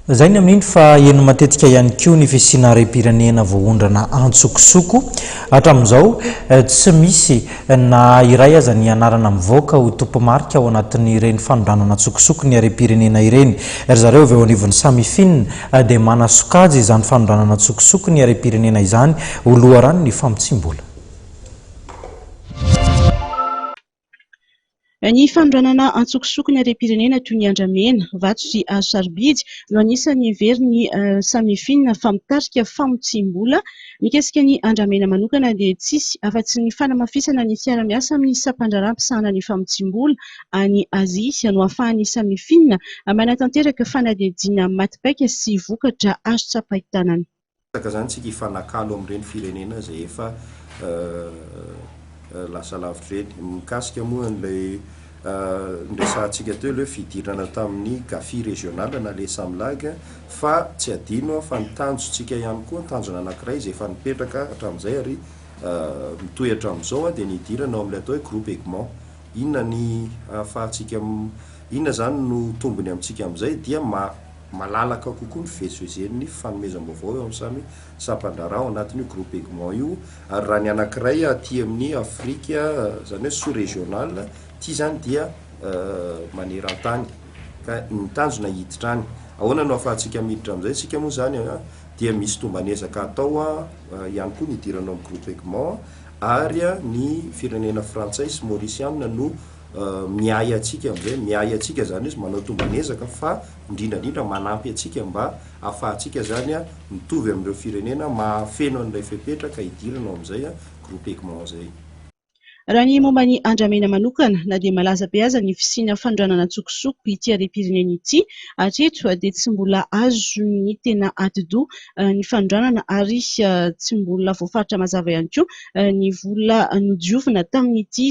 Izay ny amin'iny fa heno matetika ihany koa ny fisiana harem-pirenena voaondrana an-tsokosoko. Hatramin'izao, tsy misy na iray aza ny anarana mivoaka ho tompo-marika ao anatin'ireny fanondranana an-tsokosoko ny harem-pirenena ireny. Ry zareo avy eo anivon'ny Samifin dia manasokajy izany fanondranana an-tsokosoko ny harem-pirenena izany ho loharanon'ny famotsiam-bola. Ny fanondranana antsokosoko ny harem-pirenena toy ny andramena, vato sy hazo sarobidy no anisan'ny heverin'i Samifin fa mitarika famotsiam-bola. Mikasika ny andramena manokana dia tsisy afa-tsy ny fanamafisana ny fiaraha-miasa amin'ny sampandraharaha misahana ny famotsiam-bola any Azia no ahafahan'i Samifin manatanteraka fanadihadiana maty paika sy vokatra azo tsapain-tanana. Betsaka zany tsika hifanakalo amin'ireny firenena izay efa lasa lavitra ireny. Mikasika moa an'ilay noresahantsika teo ilay hoe fidirana tamin'ny Gafi régional na les Samlag fa tsy adino fa ny tanjontsika ihany koa, tanjona anankiray izay efa nipetraka hatramin'izay ary mitohy hatramin'izao dia ny hidirana ao amin'ilay atao hoe groupe Egmont. Inona ny ahafahantsika, inona izany no tombony amintsika amin'izay dia ma. Malalaka kokoa ny fivezivezen'ny fanomezam-baovao eo amin'ny samy sampan-draharaha ao anatin'io groupe Egmont io, ary raha ny anankiray aty amin'ny Afrika, izany hoe sous-régional, ity izany dia maneran-tany, ka ny tanjona hiditra any. Ahoana no ahafahantsika miditra amin'izay isika moa izany an? Dia misy tomban'ezaka atao ihany koa ny hidirana ao amin'ny groupe Egmont, ary ny firenena frantsay sy maorisianina no. miahy antsika amin'izay. Miahy antsika izany hoe manao tomban'ezaka fa indrindra indrindra manampy antsika mba ahafahantsika izany mitovy amin'ireo firenena mahafeno an'ilay fepetra ka hidirana ao amin'izay groupe Egmont izay. Raha ny momba an'i Andramena manokana, na dia malaza be aza ny fisiana fanondranana an-tsokosoko ity harem-pirenena ity, hatreto dia tsy mbola azon'ny tena atidoha ny fanondranana ary tsy mbola voafaritra mazava ihany koa ny vola nodiovina tamin'ity